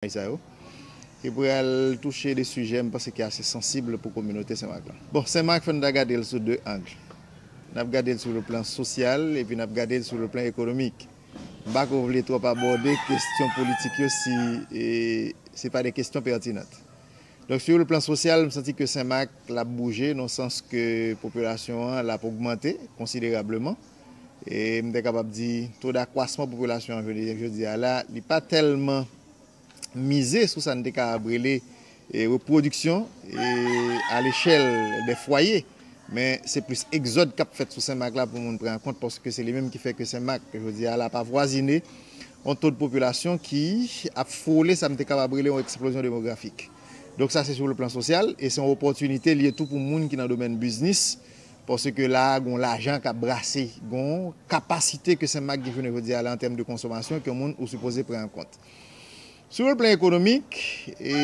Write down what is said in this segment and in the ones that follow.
Bagay sa yo ki pral touche de sijè m panse ki ase sansib pou kominote Senmak lan. Bon, Senmak fò n ta gade l sou de ang. N ap gade l sou le plan sosyal epi n ap gade l sou le plan ekonomik. M pa ko vle twòp abòde kestyon politik yo si se pa de kestyon pètinant. Donk sou le plan sosyal m santi ke Senmak l ap bouje nan sans ke popilasyon an l ap ogmante konsiderableman. E m te kapab di to dakwasman popilasyon an jounen jodi a la, li pa tèlman mize sou sa n te kapab rele repwodiksyon alechèl dè fwaye. Men se plis egzòd k ap fèt sou Senmak la pou moun pran an kont paske se li menm ki fè ke Senmak jodi a la ap avwazine yon to dpopilasyon ki ap fwole sa m te kapab rele yon eksplozyon demografik. Donk sa se sou le plan sosyal e se yon opòtinite li ye tou pou moun ki nan domèn biznis Paske la a gon lajan kap brase, gon kapasite ke Senmak gen jounen jodi a la an tèm de konsomasyon ke moun ou sipoze pran an kont. Sou yon plan ekonomik, e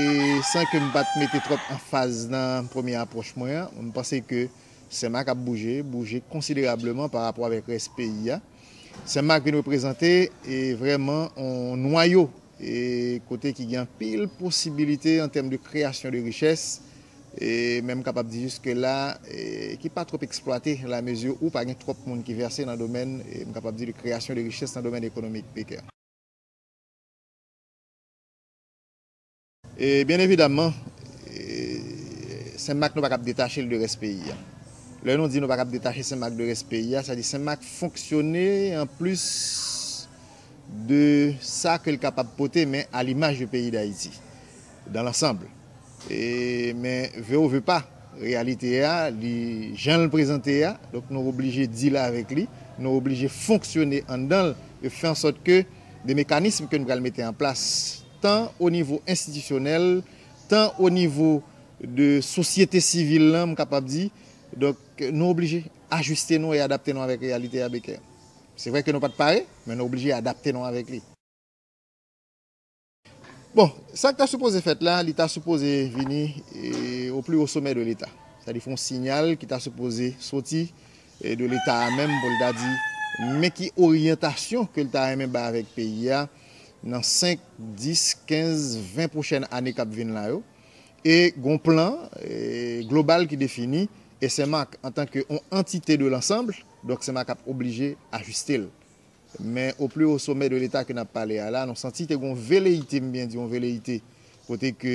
san ke m pat mete twòp anfaz nan premye apwòch mwen an, m panse ke Senmak ap bouje, bouje konsiderableman pa rapò avèk rès peyi a. Senmak vin reprezante e vrèman yon nwayo e kote ki gen anpil posibilite an tèm de kreyasyon de richès, e menm kapab di jiske la, ki pa twòp eksplwate la mezi ou pa gen twòp moun ki vèse nan domèn, m kapab di de kreyasyon de richès nan domèn ekonomik pekè. E byen evidaman, Senmak nou pa kab detache l de rès peyi a. Lè nou di nou pa kab detache Senmak de rès peyi a, sa di Senmak fonksyone an plis. de sa ke l kapab pote men a limaj de peyi Dayiti dan lansanb e men ve ou ve pa reyalite a li jan l prezante a donk nou oblije dil avèk li nou oblije fonksyone anndan l e fè ansòt ke de mekanism ke n pral mete an plas tan o nivo enstitisyonèl tan o nivo de sosyete sivil lan m kapab di donk nou oblije ajiste nou e adapte nou avèk reyalite a Beker. Se vre ke nou pa t pare, men nou oblije adapte nou avèk li. Bon, sa k ta sipoze fèt la, li ta sipoze vini o pli wo somè de leta. Sa di fon sinyal ki ta sipoze soti de leta a menm pou l ta di men ki oryantasyon ke l ta renmen bay avèk peyi a nan 5, 10, 15, 20 pwochèn ane k ap vin la yo. E gon plan global ki defini e Senmak antan ke on antite de lansanbl. Donk Senmak ap oblije ajiste l. Men o pli o somè de leta ke n ap pale a la, nou santi te gen yon veleyite, m byen di yon veleyite, kote ke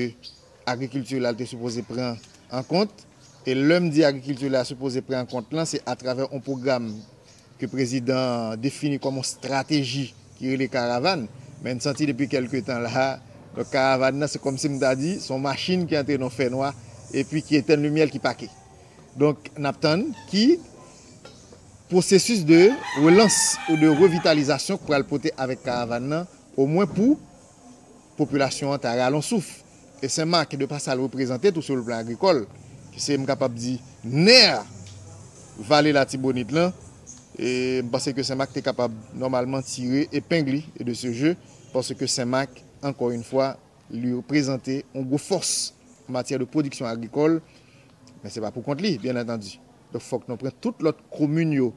agrikilti la l te sipoze pran an kont. E lè m di agrikilti la sipoze pran an kont lan, se atravè yon pwogram ke prezidan an defini kòm yon strateji ki rele Karavann. Men n santi depi kèlke tan la a, donk Karavann nan se kòmsi m ta di se yon machin ki antre nan yon fènwa epi ki etenn limyè l ki pake. Donk nap tann ki pwosesis de relans ou de revitalizasyon k pral pote avèk karavan nan omwen pou popilasyon an ta ralon souf. E Sen Mak de pa sa l reprezante tou sou le plan agrikòl ki se m kapab di nè vale latibonit lan m panse ke Sen Mak te kapab nòmalman tire epeng li de se je paske Sen Mak ankò yn fwa li reprezante yon gwo fòs an matyè de pwodiksyon agrikòl, men se pa pou kont li, byen antandi. Donk fòk nou pran tout lòt komin yo,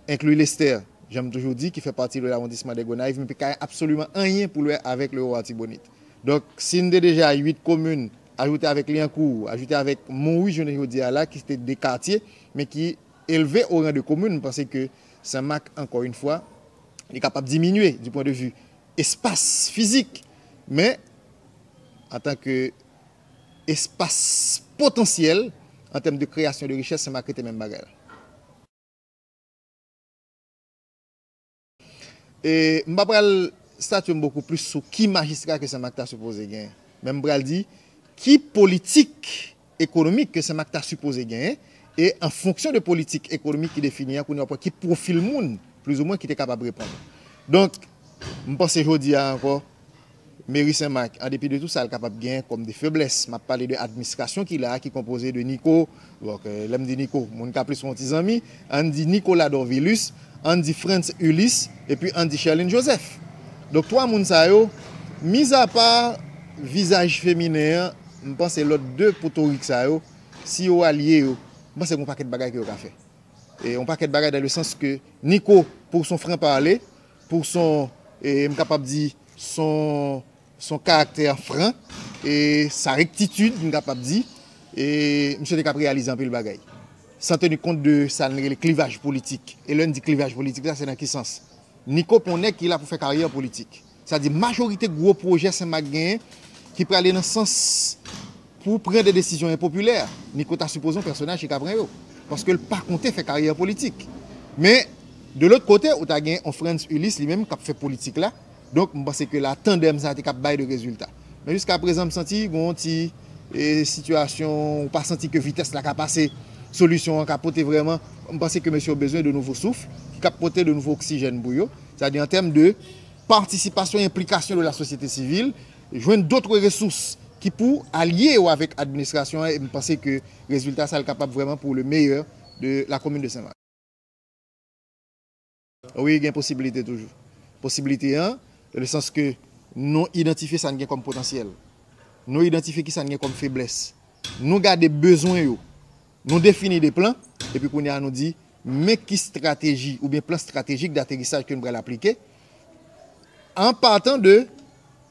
enkli Lestè, jan m toujou di, ki fè pati de lawondisman de Gonayv, men ki pa gen absoliman anyen pou l wè avèk Lewo Atibonit. Donk, si n te deja uit komin, ajoute avèk Lyankou, ajoute avèk Monwi jounen jodi a la, ki se te de katye, men ki elve o ran de komin, m panse ke Senmak, ankò in fwa, li kapab diminye di pwen de vi espas fizik, men antanke espas potansyèl an tèm de kreyasyon de richès se Marc rete menm bagay la. E m pa pral statye m bokou plis sou ki majistra ke Sen Mak ta sipoze gen men m pral di ki politik ekonomik ke Senmak ta sipoze genyen e an fonksyon de politik ekonomik ki defini an kounye a w ap wè ki pwofil moun plizoumwen ki te kapab reponn. Donk, m panse jodi a ankò Meri Senmak an depi de tou sa l kapab genyen kòm de feblès, m ap pale de adminstrasyon ki la a ki konpoze de Niko, lè m di Niko, moun ka plis wè yon ti zanmi, Ann di Nicolas Dorvilus, ann di Frantz Ulysse, epi ann di Sherline Joseph. Donk 3 moun sa yo, mizapa vizaj feminen an, m panse lòt 2 potorik sa yo, si yo alye yo, m panse gen yon pakèt bagay ke yo ka fè. E yon pakèt bagay dan le sans ke Nico, pou w s on franc parler, pou w s on, e m kapab di, s on Son karaktè fran e sa rektitid m kapab di e misye te kap reyalize anpil bagay. San teni kont de sa n rele klivaj politik. E lè n di klivaj politik sa se nan ki sans? Niko pon nèg ki la pou fè karyè politik. Sa di majorite gwo pwojè Senmak genyen ki prale nan sans pou pran de desizyon enpopilè, Niko ta sipoze yon pèsonaj ki ka pran yo. Paske l pa konte fè karyè politik. Men, de lòt kote, ou ta gen yon Frantz Ulysse li menm kap fè politik la. Donk m panse ke la tandem sa te kap bay de rezilta. Men jiska prezan m santi gen yon ti sitiyasyon ou pa santi ke vitès la ka pase solisyon an ka pote vrèman. M panse ke mesye yo bezwen de nouvo souf ki kap pote de nouvo oksijèn pou yo. Sa di an tèm de patisipasyon, enplikasyon de la sosyete sivil, jwenn dotre resous ki pou alye yo avèk administrasyon an e m panse ke rezilta sa l kapab vrèman pou le meyè de la komin de Sen Mak. Wi gen posibilite toujou. Posibilite an, nan le sans ke nou idantifye sa n gen kòm potansyèl. Nou idantifye ki sa n gen kòm feblès. Nou gade bezwen yo. Nou defini de plan, epi kounye a nou di, men ki strateji oubyen plan stratejik daterisaj ke n pral aplike, an patan de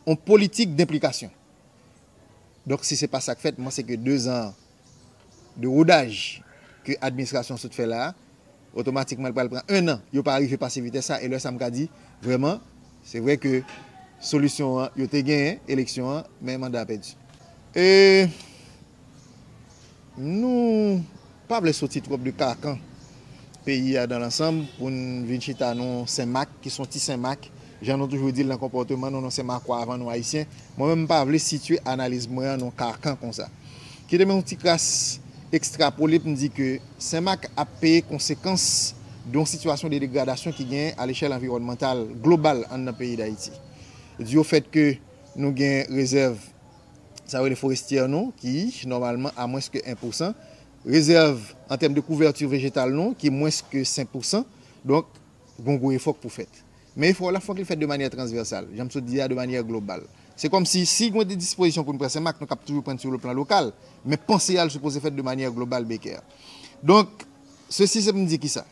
yon politik denplikasyon. Donk si se pa sa k fèt, m panse ke dezan an, de rodaj ke administrasyon sot fè la a, otomatikman li pral pran 1 an, yo pa rive pase vitès sa e lè sa m ka di vrèman se vre ke solisyon an yo te genyen eleksyon an men manda a pèdi. E nou pa vle soti twòp de karkan peyi a dan lansanm pou n vin chita nan yon senmak ki son ti senmak Jan nou toujou di l nan konpòteman nou nou se makwa avan nou Ayisyen, mwen menm m pa vle sitye analiz mwen an nan yon karkan konsa. Kite m yon ti kras ekstrapole pou m di ke Senmak ap peye konsekans de yon sitiyasyon de degradasyon ki genyen alechèl anviwònmantal global anndan peyi Dayiti. Di o fèt ke nou gen rezèv sa yo rele forestyè nou ki nòmalman a mwens ke 1 pousan, rezèv an tèm de kouvèti vejetal nou ki mwens ke 5 pousan, donk Gon gwo efò k pou fèt. Men efò w la fòk li fèt de manyè transvèsal, jan m sot di a, de manyè global. Se kòm si, si gon de dispozisyon pou n pran, se mak nou k ap toujou pran sou le plan lokal, men panse a l sipoze fèt de manyè global Beke. Donk, sesi se pou m di kisa?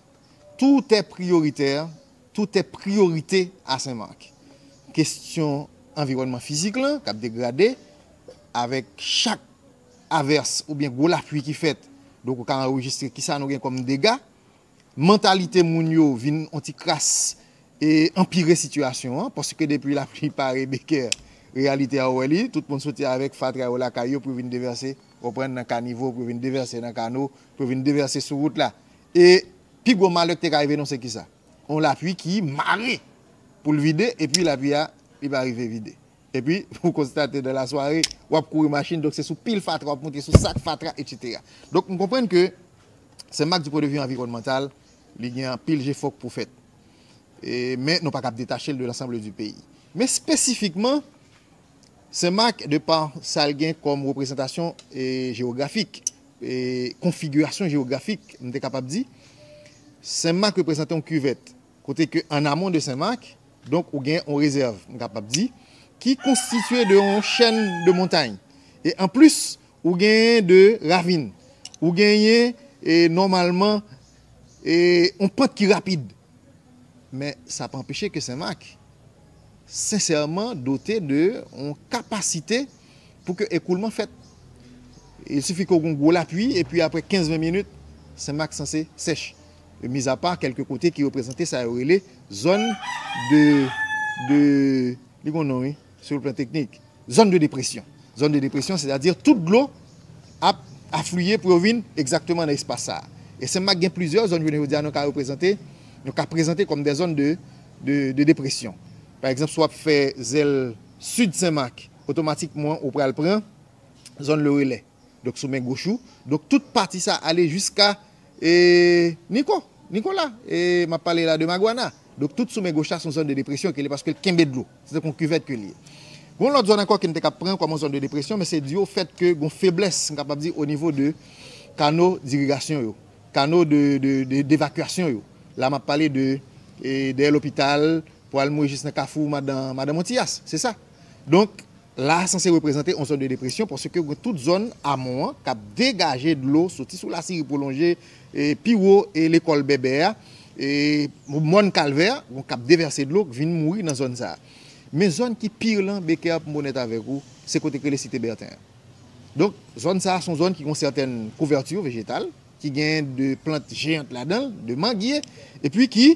Tout è priyoritè, tout è priyorite a Senmak. Kestyon anviwònman fizik lan k ap degrade, avèk chak avès oubyen gwo lapui ki fèt, donk ou ka anrejistre kisa nou gen kòm dega, Mantalite moun yo vin on ti kras e anpire sitiyasyon an, paske depi lapli pare bekè, reyalite a ou wè li, tout moun soti avèk fatra yo lakay yo pou yo vin devèse, ou konprann, nan kanivo, pou yo vin devèse nan kano, pou yo vin devèse sou wout la. E pi gwo malè ki te ka rive nou se kisa? On lapli ki mare pou l vide, epi lapli a, li pa rive vide. Epi, ou konstate nan lasware, w ap kouri machin, donk se sou pil fatra w ap monte, sou sak fatra, etsetera. Donk, m konprann ke Senmak di pwendevi anviwònmantal, li gen anpil jefò k pou fèt. E, men, nou pa kab detache l de lansanble di peyi. Men, spesifikman, Senmak, de pa sa l gen kòm reprezantasyon jewografik, e, konfigirasyon jewografik, m te kapab di, Senmak reprezante yon kivèt. Kote ke, an amon de Senmak, Donk ou gen yon rezèv, m kapab di, ki konstitye de yon chèn de montay. E anplis, ou genyen de ravin. Ou genyen nòmalman yon pant ki rapid. Men sa pa anpeche ke Sen Mak sensèman dote de yon kapasite pou ke ekoulman fèt. Il sifi ke w gen yon gwo lapui epi apre 15-20 minit, Sen Mak sanse sèch. mizapa kèlke kote ki reprezante sa yo rele zòn de, de, li gon non wi, sou plan teknik, zòn de depresyon. Zòn de depresyon, sètadi tout dlo ap afliye pou yo vin egzakteman nan espas sa a. E Senmak gen plizyè zòn jounen jodi a nou ka reprezante, nou ka prezante kòm de zòn de, de, de depresyon. Pa egzanp, si w ap fè zèl sid Senmak, otomatikman ou pral pran zòn Le Relais. Donk sou men goch ou. Donk tout pati sa ale jiska e Niko, Nikola. E m ap pale la de Magwana. Donk tout sou men goch la se yon zòn de depresyon ke li paske l kenbe dlo. Se tankou yon kivèt ke li ye. Gon lòt zòn ankò ke n te kab pran kòm yon zòn de depresyon men se di o fèt ke gon feblès m kapab di o nivo de kano dirigasyon yo. Kano de de devakyasyon yo. La m ap pale de e dèyè lopital pou al mouye jis nan kafou madan madan Montiyas. Se sa. Donk La a sanse reprezante yon zòn de depresyon paske gen tout zòn amon an k ap degaje dlo soti sou Lasiri pwolonje pi wo lekòl Bèbè a, Mòn Kalvè, k ap devèse dlo k vin mouri nan zòn sa a. Men zòn ki pi rele an, Becker pou m onèt avèk ou, se kote k rele Site Bèten an. Donk, zòn sa a se yon zòn ki gen yon sètèn kouvèti vejetal, ki gen de plant jeyant ladan l, de mangye, epi ki.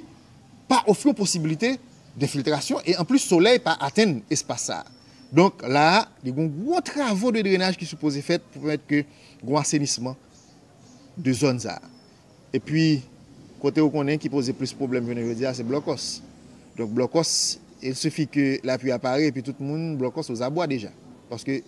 pa ofri yon posibilite denfiltrasyon e anplis solèy pa atenn espas sa a. Donk la a, li gen yon gwo travo de drenaj ki sipoze fèt pou pèmèt ke gen yon asenisman de zòn sa a. Epi, kote ou konnen ki poze plis pwoblèm jounen jodi a se blòkòs. Donk blòkòs, il sifi ke lapui a pare epi tout moun blòkòs ozabwa deja. Paske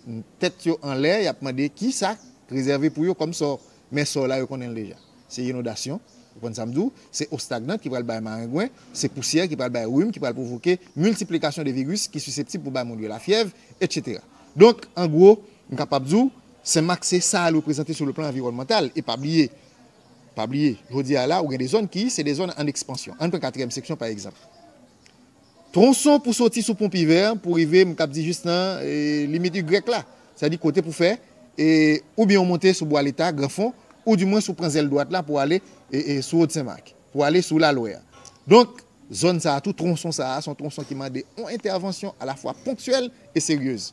tèt yo anlè y ap mande kisa k rezève pou yo kòm sò. Men sa w la yo konnen l deja. Se inondasyon, ou konn sa m di w, se o stagnant ki pral bay marengwen, se pousyè ki pral bay rim ki pral pwovoke miltiplikasyon de viris ki siseptib pou bay moun yo lafyèv, etsetera. Donk, an gwo, m kapab di w, Senmak se sa l reprezante sou le plan anviwònmantal. E pa bliye, pa bliye, jodi a la ou gen de zòn ki se de zòn an ekspansyon. Ann pran katriyèm seksyon pa egzanp. Twonson pou soti sou pon Pivè an pou rive m kab di jis nan limit Y la, sa di kote pou fè e oubyen ou monte sou Bwa Leta, Gran Fon, ou di mwens ou pran zèl dwat la pou ale sou Wot Sen Mak, pou ale sou Lalwè a. Donk, zòn sa a tou, twonson sa a, s on twonson ki mande on entèvansyon alafwa ponktyèl e seryez.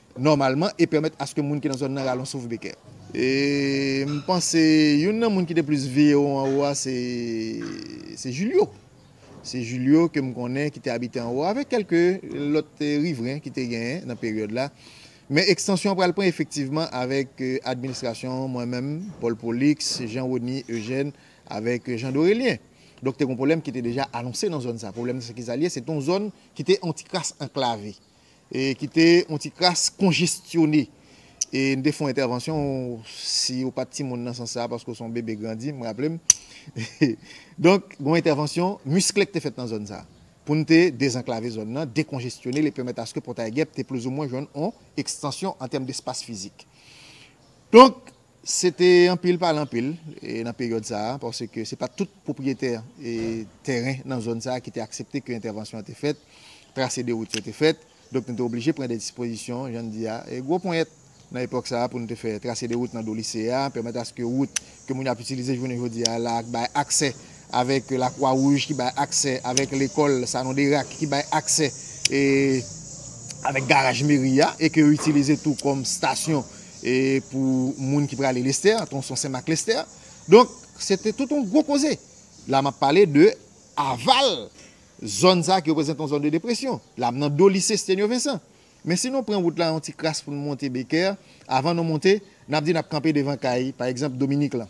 nòmalman e pèmèt aske moun ki nan zòn nan rale yon souf bekè. E m panse youn nan moun ki te plis veye ou anwo a se Julio. Se Julio ke m konnen ki te abite anwo avèk kèlke lòt rivren ki te genyen nan peryòd la. Men ekstansyon an pral pran efektivman avèk administrasyon mwen menm, Paul Prolix, Jean Rony, Eugène avèk Jean Dorélien. Donk te gen yon pwoblèm ki te deja anonse nan zòn sa. Pwoblèm nan se ki sa li ye? Se te yon zòn ki te yon ti kras anklave. ki te yon ti kras konjestyone. E m te fè yon entèvansyon, si ou pa t timoun nan sans sa a, paske ou se yon bebe grandi, m raple m. Donk, gen yon entèvansyon miskle ki te fèt nan zòn sa a, pou n te dezanklave zòn nan, dekonjestyone l e pèmèt aske Pòtay Gèp te plizoumwen jwenn yon ekstansyon an tèm despas fizik. Donk, Se te anpil pale anpil nan peryòd sa a, paske se pa tout pwopriyetè tèren nan zòn sa a ki te aksepte ke entèvansyon an te fèt, trase de wout yo te fèt, donk nou te oblije pran de dispozisyon, jan n di a, gwo ponyèt nan epòk sa a pou nou te fè trase de wout nan do lise a, pèmèt aske wout ke moun yo ap itilize jounen jodi a la ak bay aksè avèk Lakwa Wouj ki bay aksè, avèk lekòl Sanon Derak ki bay aksè e avèk garaj meri a e ke yo itilize tou kòm stasyon e pou moun ki prale Lestè, Tronson Sen Mak Lestè. Donk, se te tout yon gwo koze. La m ap pale de aval zòn sa a ki reprezante yon zòn de depresyon. La m nan do lise Stenio Vensan. Men si nou pran wout la yon ti kras pou nou monte Beker, avan nou monte, n ap di n ap kanpe devan kay, pa egzanp, Dominik lan.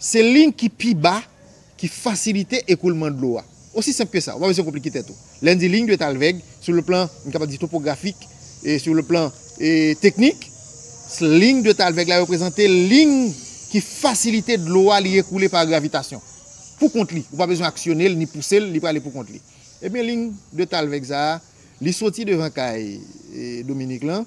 Se liy ki pi ba ki fasilite ekoulman dlo a. Osi senp ke sa, ou pa bezwen konplike tèt ou. Lè n di liy dwèt Alvèg, sou le plan, m kapab di topografik, e sou le plan teknik, liy dwèt Alvèg la reprezante liy ki fasilite dlo a li ekoule pa gravitasyon. Pou kont li, ou pa bezwen aksyone l ni pouse l, li prale pou kont li. Ebyen liy dwèt Alvèg sa a, li soti devan kay Dominik lan,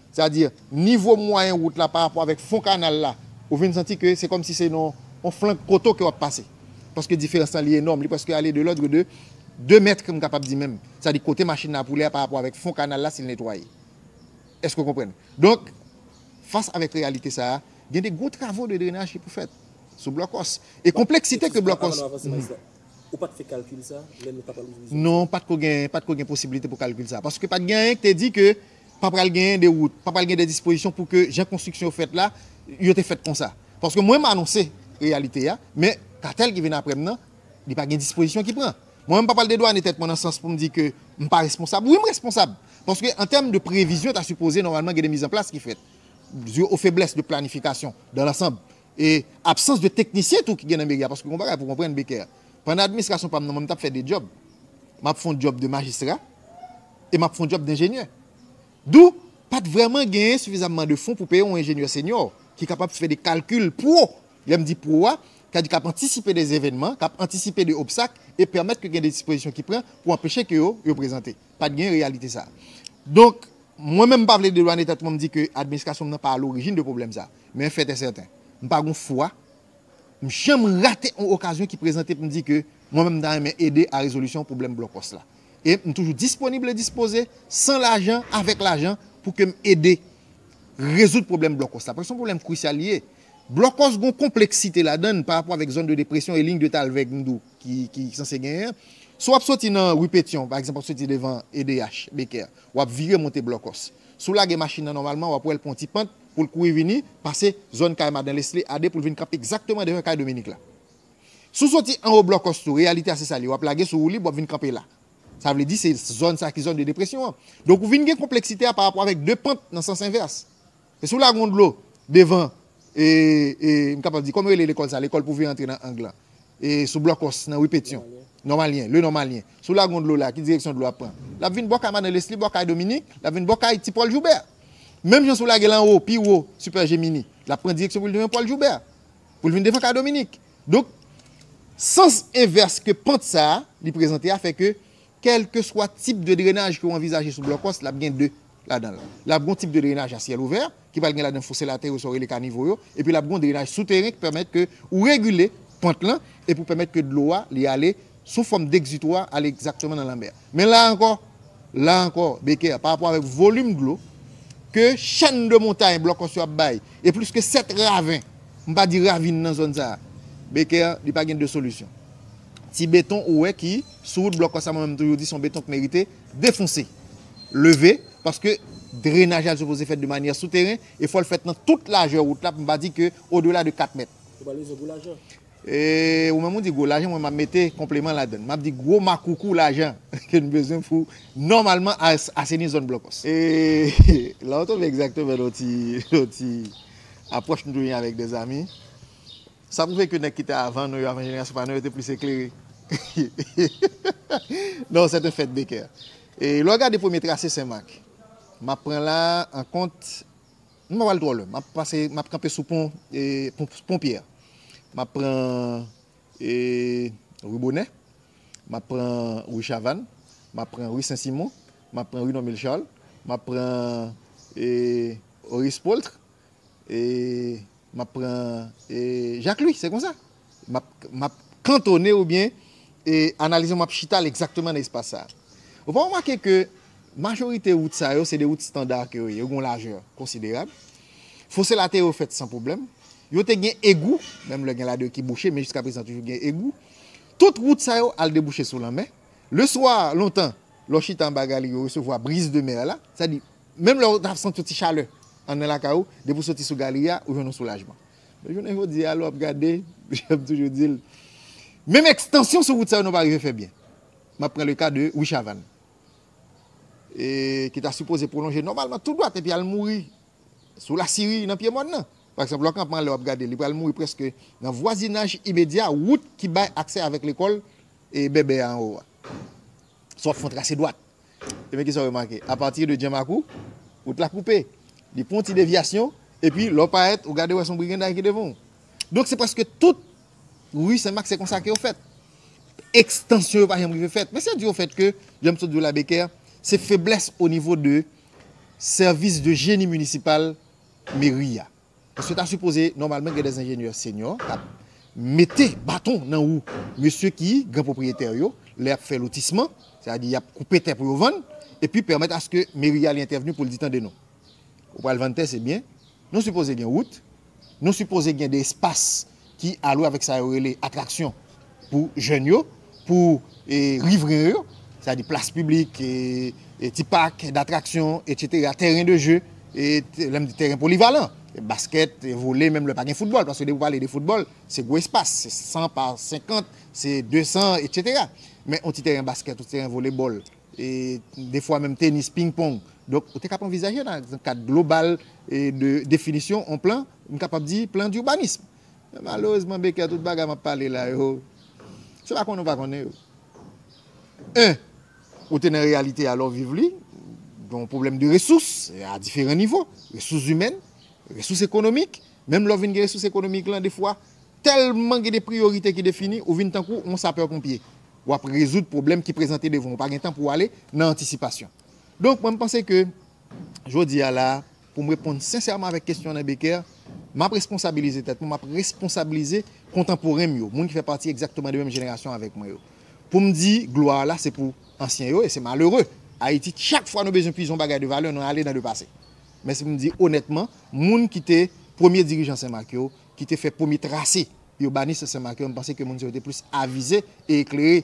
Sa di, nivo mwayen wout la pa rapò avèk fon kanal la, ou vin santi ke se kòm si se nan yon flank poto ke w ap pase. Paske diferans lan li enòm, li prèske ale de lòdre de 2 mètre m kapab di menm. Sa di kote machin nan ap woule a pa rapò avèk fon kanal la si l netwaye. Èske w konprann? Donk, fas avèk reyalite sa a, gen de gwo travo de drenaj ki pou fèt sou blòkòs. E konpleksite ke blòkòs. Avan nou avanse, Majistra, ou pa t fè kalkil sa a lè nou t ap al ouvri zòn sa a? Non, pa t ko gen, pa t ko gen posibilite pou kalkil sa a. Paske pa t gen anyen ki te di ke pa pral genyen de wout, pa pral gen de dispozisyon pou ke jan konstriksyon yo fèt la, yo te fèt konsa. Paske mwen m anonse reyalite a, men katèl ki vin apre m nan, li pa gen dispozisyon ki pran. Mwen menm m pa pral dedwane tèt mwen nan sans pou m di ke m pa responsab. Wi m responsab, paske an tèm de previzyon ta sipoze nòmalman gen de mizanplas ki fèt. Dû aux faiblesses de planification dans l'ensemble, E absans de teknisyen tou ki gen nan meri a paske gon bagay pou konprann Becker. Pandan administrasyon pa m nan mwen m t ap fè 2 djòb. M ap fè yon djòb de majistra e m ap fè yon djòb denjenyè. Dou, pa t vrèman genyen sifizamman de fon pou peye yon enjenyè senyò ki kapab fè de kalkil pro, lè m di pro a, sa di k ap antisipe de zevènman, k ap antisipe de obstak e pèmèt ke gen de dispozisyon ki pran pou anpeche ke yo, yo prezante. Pa t genyen reyalite sa a. Donk, mwen menm m pa vle dedwane tèt mwen m di ke administrasyon m nan pa a lorijin de pwoblèm sa a. Men yn fèt e sèten, m pa gon fwa m janm rate yon okazyon ki prezante pou m di ke mwen menm m ta renmen ede a rezolisyon pwoblèm blokòs la. E m toujou disponib e dispoze, san lajan, avèk lajan, pou ke m ede rezoud pwoblèm blokòs la. Paske se yon pwoblèm krisyal li ye. Blokòs gon konpleksite ladan l parapò avèk zòn de depresyon e liy de talvè gndou ki sanse genyen an. Si w ap soti nan ri Petyon, pa egzanp w ap soti devan edh, Becker, w ap vire monte blokòs. Si w lage machin nan nòmalman, w ap wè l pran yon ti pant, pou l kouri vini pase zòn kay Madan Lesly a 2 pou l vin kanpe egzakteman devan kay Dominik la. Si w soti anwo blòkòs tou, reyalite a se sa l ye, w ap lage sou woulib, w ap vin kanpe la. Sa vle di se zòn sa ki zòn de depresyon an. Donk ou vin gen konpleksite a parapò avèk 2 pant nan sans envès. E si w lage yon dlo devan e, e, m kapab di, kòman yo rele lekòl sa, lekòl pou vin antre nan ang lan, e sou blòkòs nan ri Petyon, Nòmalyen, Le Nòmalyen, si w lage yon dlo la, ki direksyon dlo a ap pran? L ap vin bò kay Madan Lesly, bò kay Dominik, l ap vin bò kay Ti Pòl Joubert. Menm jan si w lage l anwo, pi wo, Super Gemini, l ap pran direksyon pou l devan Paul Joubert, pou l vin devan K. Dominique. Donk, sans envès ke pant sa a li prezante a fè ke kèlkeswa tip de drenaj ke w anvizaje sou blòkòs, l ap gen 2 ladan l. L ap gon tip de drenaj a syèl ouvè, ki pral gen ladan l fouse latè yo, sa yo rele kanivo yo, epi l ap gon drenaj souteren ki pèmèt ke ou regile pant lan, epi ou pèmèt ke dlo a li ale sou fòm degzitwa ale egzakteman nan lanmè a. Men la ankò, la ankò, Becker, pa rapò avèk volim dlo ke chèn de montay blòkòs yo ap bay, e plis ke 7 raven, m pa di ravin nan zòn sa a, Becker, li pa gen 2 solisyon. Ti beton ou wè ki sou wout blòkòs sa mwen menm m toujou di son beton k merite defonse, leve, paske drenaj la li sipoze fèt de manyè souteren e fò l fèt nan tout lajè wout la, m pa di ke odela de 4 mèt. Ou pale egzanp pou lajè? E ou menm ou di gwo lajan mwen map mete konpleman ladann. Map di gwo makoukou lajan ke nou bezwen pou nòmalman aseni zòn blòkòs. E la ou tonbe egzakteman nan yon ti apwòch nou te genyen avèk de zami. Sa pwouve ke nèg ki te avan nou yo, avan jenerasyon pa nou yo te plis eklere. Nan yon sèten fèt Becker. E lè w gade premye trase Senmak, map pran la an kont. M pa pral twò lwen. M ap pase, m ap kanpe sou pon, pon pyè. M ap pran rue Bonè, m ap pran rue Chavann, m ap pran rue Sen Simon, m ap pran rue Normil Charles, m ap pran Oris Paultre, e. M ap pran Jacques Louis, se konsa. M ap kantone oubyen analize, m ap chita l egzakteman nan espas sa. Ou pa remake ke majorite wout sa yo se de wout standar ke yo ye, yo gen yon lajè konsiderab. Fose lateryo yo fèt san pwoblèm. Yo te gen egou, menm lè gen la de ki bouche, men jiska prezan toujou gen egou. Tout wout sa yo al debouche sou lanmè. Le swa, lontan, lè w chita anba galri yo resevwa brise de mer la, sa di Menm lè ou ta santi yon ti chalè anndan lakay ou, depi ou soti sou galri a, ou jwenn yon soulajman. Men jounen jodi a, lè w ap gade, jan m toujou di l, menm ekstansyon sou wout sa yo nou pa rive fè byen. M ap pran le ka de Wi Chavann, ki ta sipoze pwolonje nòmalman tou dwat epi al mouri sou Lasiri nan pye mòn nan. Pa egzanp, lò kanpman an lè w ap gade li pral mouri prèske nan vwazinaj imedya wout ki bay aksè avèk lekòl Bèbè a anwo a. Si w ap fè yon trase dwat, Ebyen kisa w remake? Apati de Djan Makou, wout la koupe. Li pran yon ti devyasyon, epi lè w parèt, ou gade wè se yon briganday ki devan w. Donk se prèske tout ri Sen Mak se konsa ke yo fèt. Ekstansyon yo pa janm rive fèt. Men se di o fèt ke, jan m sot di w la Bekè, se feblès o nivo de sèvis de jeni minisipal meri a. Paske ta sipoze nòmalman gen des enjenyè senyò k ap mete baton nan wou mesye ki gran pwopriyetè yo lè y ap fè lotisman, sètadi y ap koupe tè pou yo vann, epi pèmèt aske meri a li entèvni pou l di tande nou, ou pral vann tè se byen, nou sipoze gen wout, nou sipoze gen de espas ki alwe avèk sa yo rele atraksyon pou jèn yo, pou rivren yo, sa di plas piblik, ti pak datraksyon, etsetera, tèren de je, lè m di tèren polivalan, baskèt, vole, menm lè pa gen foutbòl, paske depi w pale de foutbòl, se gwo espas, se 100 pa 50, se 200, etsetera, men yon ti tèren baskèt, yon ti tèren volebòl, defwa menm tenis, ping pong, donk ou te kap anvizaje nan kad global de definisyon yon plan. M kapab di plan d'urbanisme. Men malerezman Becker tout bagay m ap pale la yo, se pa konnen ou pa konnen yo. Un, ou te nan reyalite a lè w viv li, gen yon pwoblèm de resous a diferan nivo, resous imèn, resous ekonomik, menm lè w vin gen resous ekonomik lan defwa, tèlman gen de priyorite ki defini, ou vin tankou yon sapè ponpye. W ap rezoud pwoblèm ki prezante devan w, ou pa gen tan pou w ale nan antisipasyon. Donk mwen m panse ke jodi a la a, Pou m reponn sensèman avèk kesyon Alain Becker, m ap responsabilize tèt mwen, m ap responsabilize kontanporen m yo, moun ki fè pati egzakteman de menm jenerasyon avèk mwen yo, pou m di glwa a la se pou ansyen yo e se malere Ayiti chak fwa nou bezwen puize yon bagay de valè nou ale nan le pase. Men si pou m di onètman, moun ki te premye dirijan Senmak yo, ki te fè premye trase ibanis Senmak yo, m panse ke moun sa yo te plis avize e eklere.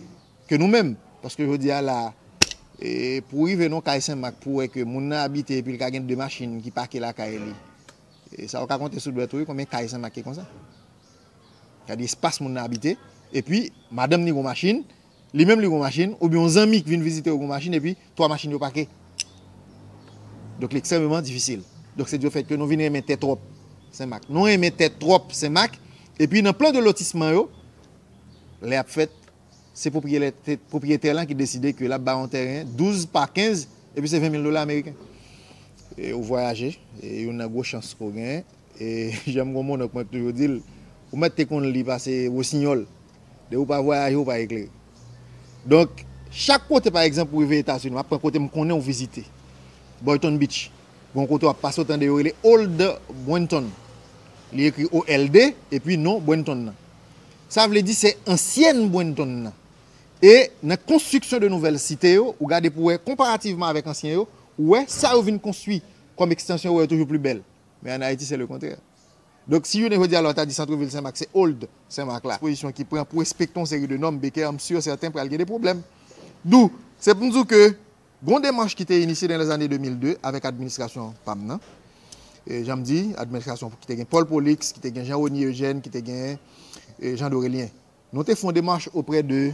Ke nou menm. Paske jodi a la a, pou ou rive nan kay Senmak pou wè ke moun nan abite epi li ka gen 2 machin ki pake lakay li, sa ou ka konte sou dwèt ou wi konbyen kay Senmak ki konsa. Sa di espas moun nan abite, epi madanm ni gon machin, li menm li gon machin, oubyen yon zanmi ki vin vizite ou gon machin epi 3 machin yo pake. Donk li ekstrèmeman difisil. Donk se dyo fèt ke nou vin renmen tè twòp Senmak. Nou renmen tè twòp Senmak, epi nan plan de lotisman yo, lè ap fèt, se pwopriyetè lan ki deside ke lap ba yon tèren 12 pa 15 epi se 20 mil dola ameriken. E ou vwayaje, e youn nan gwo chans ke w genyen, e janm gen yon mononk mwen toujou di l, ou mèt te konn li pase wosinyòl, depi w pa vwayaje ou pa eklere. Donk, chak kote pa egzanp ou rive Etazini, map pran kote m konnen ou vizite, Boyton Beach, gen yon kote wap pase ou tande yo rele Old Boynton, li ekri OLD epi non Boynton nan. Sa vle di se ansyèn Bwenton nan. E nan konstriksyon de nouvèl site yo, ou gade pou wè konparativman avèk ansyen yo, ou wè sa yo vin konstwi kòm ekstansyon ou wè yo toujou pli bèl. Men an Ayiti se le kontrè. Donk si jounen jodi a la ou ta di santrevil Senmak se old Senmak la. Pozisyon ki pran pou respekte yon seri de nòm Beker m sur sèten pral gen de pwoblèm. Dou se pou m di w ke Gon demach ki te inisye nan lèzane 2002 avèk administrasyon pa m nan. Jan m di, administrasyon ki te gen Paul Prolix, ki te gen Jean Rony Eugène, ki te gen Jean Dorélien. Nou te fè yon demach oprè de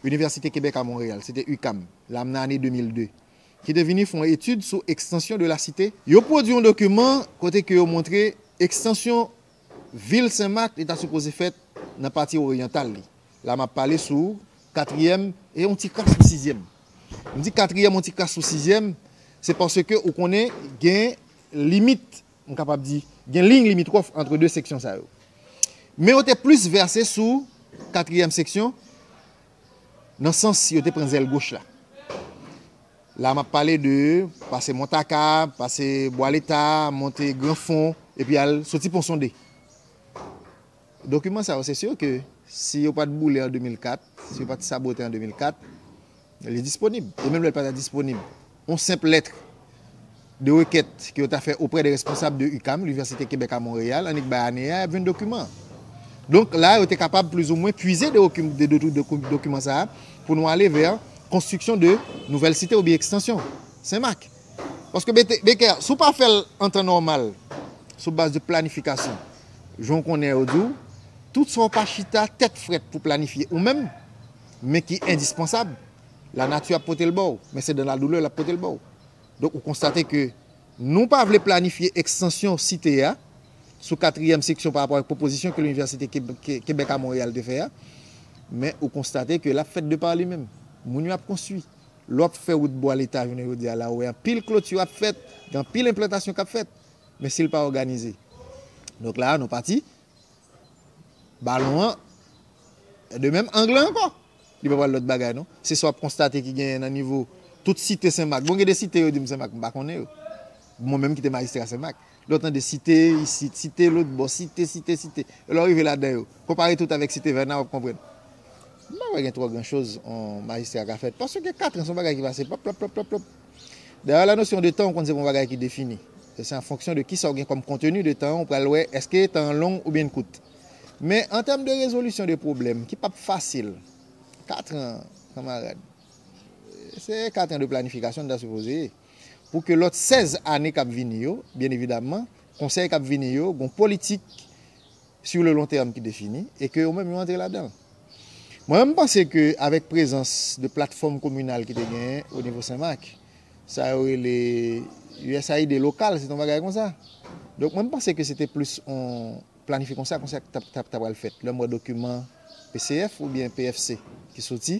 Université Québec à Montréal, se te UQAM, la m nan ane 2002, ki te vini fè yon etid sou extension de la cité. Yo pwodui yon dokiman kote ke yo montre extension Vil Sen Mak li ta sipoze fèt nan pati oryantal li. La m ap pale sou katriyèm e yon ti kras sou sizyèm. M di katriyèm yon ti kras sou sizyèm, se paske ou konnen gen limit, m kapab di, gen liy limitwòf antre de seksyon sa yo. Men yo te plis vèse sou katriyèm seksyon nan sans yo te pran zèl goch la. La a m ap pale de pase Montaka, pase Bwa Leta, monte Gran Fon, epi al soti Pon Sonde. Dokiman sa yo se sur ke si yo pa t boule an 2004, si yo pa t sabote an 2004, li disponib. E menm lè l pa ta disponib, Yon senp lettre de requête ke yo ta fè auprès des responsables de UQAM, L'Université Québec à Montréal, annik bay ane a, y ap jwenn dokiman an. Donk, la a, yo te kapab plis ou mwen pwize de dokiman sa a pou nou ale vè konstriksyon de nouvèl site oubyen ekstansyon Sen Mak. Paske Bekè, si w pa fè l an tan nòmal, sou baz de planifikasyon, jan w konnen yo di w, tout sa w pa chita tèt frèt pou planifye ou menm, men ki endispansab, la nati ap pote l ba w, men se dan la doulè l ap pote l ba w. Donk ou konstate ke nou pa vle planifye ekstansyon site a sou katriyèm seksyon pa rapò ak pwopozisyon ke Linivèsite Kebèk a Monreyal te fè a, men ou konstate ke l ap fèt de pa li menm. Moun yo ap konstwi. Lè w ap fè wout bwa leta jounen jodi a la ou wè anpil kloti ap fèt, gen anpil enplantasyon k ap fèt, men si l pa òganize. Donk la a nou pati Balon an de menm ang lan ankò. Li pa pral lòt bagay non. Se sa w ap konstate ki genyen nan nivo tout site Senmak. Bon gen de site yo di m Senmak m pa konnen yo. Mwen menm ki te majistra Senmak. Lè w tande site isit, site lotbò, site, site, site. E lè w rive ladan yo. Konpare tout avèk site Vèna w ap konprann. M pa kwè gen twò gran choz yon majistra ka fè. Paske katran se yon bagay ki pase pap, pap, pap, pap, pap. Dayè la nosyon de tan ou konn se pa yon bagay ki defini. Se an fonksyon de kisa ou gen kòm konteni de tan ou pral wè èske tan an long oubyen l kout. Men an tèm de rezolisyon de pwoblèm ki pap fasil, katran kanmarad se katran de planifikasyon li ta sipoze ye pou ke lòt 16 ane kap vini yo byen evidamman konsèy kap vini yo gon politik Sur le long terme ki defini e ke yo menm yo antre ladan l. Mwen menm m panse ke avèk prezans de platfòm kominal ki te genyen o nivo Senmak, sa yo rele usaid lokal se t on bagay konsa. Donk mwen m panse ke se te plis on planifi konsa konsa k t ap pral fèt. Lè m wè dokiman PCF oubyen PFC ki soti,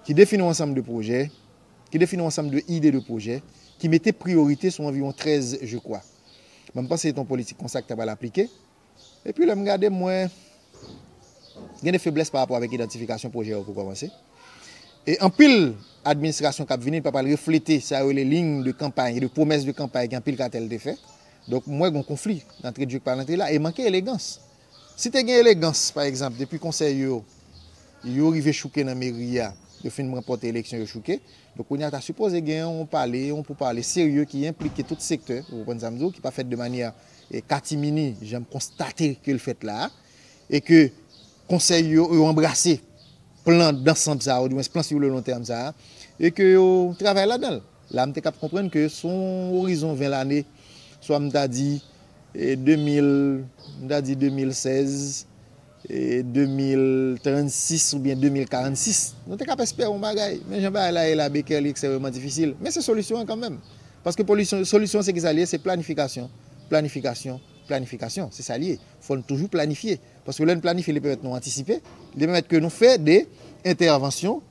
ki defini on ansanm de pwojè, ki defini on ansanm de ide de pwojè, ki mete priyorite sou anviwon 13 je kwa. Men m panse se t on politik konsa ki ta pral aplike. Epi lè m gade mwen gen de feblès pa rapò avèk idantifikasyon pwojè yo pou kòmanse. E anpil administrasyon k ap vini pa pral reflete sa yo rele liy de kanpay, de pwomès de kanpay ke anpil katèl te fè. Donk m wè gen yon konfli, antre djwek pa l antre la e manke elegans. Si te gen elegans, pa egzanp, depi konsèy yo yo rive chouke nan meri a, yo fin ranpòte eleksyon yo chouke, donk kounye a ta sipoze gen yon pale, yon poupale serye ki enplike tout sektè, ou konprann sa m di w, ki pa fèt de manyè katimini jan m konstate ke l fèt la a, e ke konsèy yo yo anbrase plan dansanm sa a, oudimwens plan sur le long terme sa a, e ke yo travay ladan l. La m te kab konprann ke sou yon orizon 20 lane, swa m ta di 2000, m ta di 2016, 2036 oubyen 2046, nou te kab espere yon bagay. Men jan bagay la ye la Baker li ekstrememan difisil. Men se solisyon an kanmenm. Paske polisyon, solisyon se ki sa li ye? Se planifikasyon, planifikasyon, planifikasyon. Se sa li ye. Fò n toujou planifye. Paske lè n planifye li pèmèt nou antisipe, li pèmèt ke nou fè de entèvansyon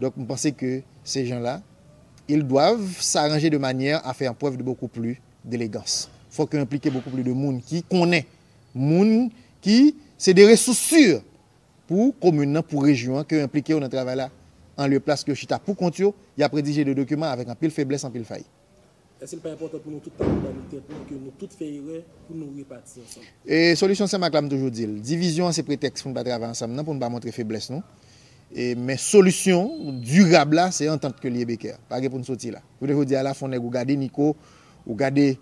Donc m panse ke se jan la ils doivent s'arranger de manière à faire preuve de beaucoup plus d'élégance. Fok yo enplike beaucoup plus de moun ki konnen moun ki se de resous sur pou komin nan, pou rejyon an ke yo enplike yo nan travay la an lye plas ke yo chita pou kont yo, y ap redije de dokiman avèk anpil feblès, anpil fay. Èske li pa enpòtan pou nou tout pale nan mitan nou ke nou tout fè erè pou nou repati ansanm? E solisyon CEMAC la m toujou di l, divizyon an se pretèks pou n pa travay ansanm nan, pou n pa montre feblès nou. E men solisyon dirab la se antant ke li ye Beker. Pa gen pou n soti la. Jounen jodi a la fon nèg ou gade Nico, ou gade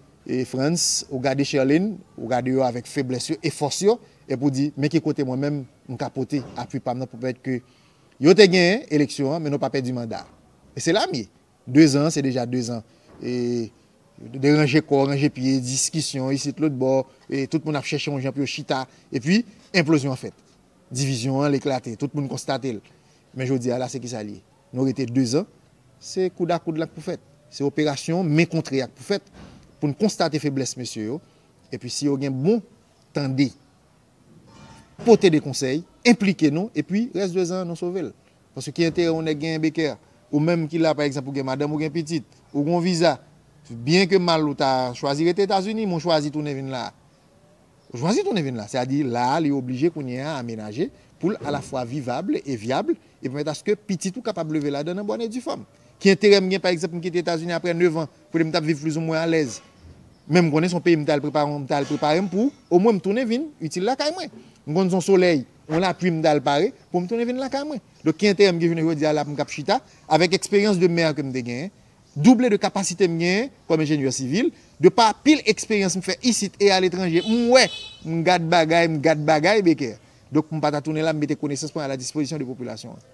Frantz, ou gade Sherline, ou gade yo avèk feblès yo e fòs yo, epi ou di men ki kote mwen menm m ka pote apui pa m nan pou pèmèt ke yo te genyen eleksyon an men nou pa pèdi manda a. E se la m ye. 2 zan se deja 2 zan e de ranje kò, ranje pye, diskisyon isit lotbò, tout moun ap chèche yon jan pou yo chita epi enplozyon an fèt. Divizyon an eklate, tout moun konstate l. Men jodi a la se kisa l ye? Nou rete 2 zan, se koud a koud la k pou fèt, se operasyon men kontre a k pou fèt pou n konstate feblès mesye yo epi si yo gen bon tande. Pote de konsèy, enplike nou epi rès de zan an nou sove l. Paske ki enterè yon nèg genyen Becker? Ou menm ki la pa egzanp ou gen madanm ou gen pitit. Ou gen yon viza. Byen ke mal ou ta chwazi rete Etazini men ou chwazi tounen vin la a. Ou chwazi tounen vin la. Se a di la a li oblije kounye a amenaje pou l alafwa vivab e vyab e pèmèt aske pitit ou kapab leve ladan l an bòn e di fòm. Ki enterè m gen pa egzanp m kite Etazini aprè 9 an kote m t ap viv plizoumwen alèz men m konnen se yon peyi m t al prepare m t al prepare m pou omwen m tounen vin itil lakay mwen. M konnen se yon solèy, yon lapui m t al pare pou m tounen vin lakay mwen. Donk ki enterè m gen jounen jodi a la pou m k ap chita avèk eksperyans de mè ke m te genyen, double de kapasite m genyen kòm enjenyè sivil, de pa pil eksperyans m fè isit e aletranje m wè, m gad bagay, m gad bagay Beker. Donk m pa ta tounen la m mete konesans mwen a la dispozisyon de popilasyon an.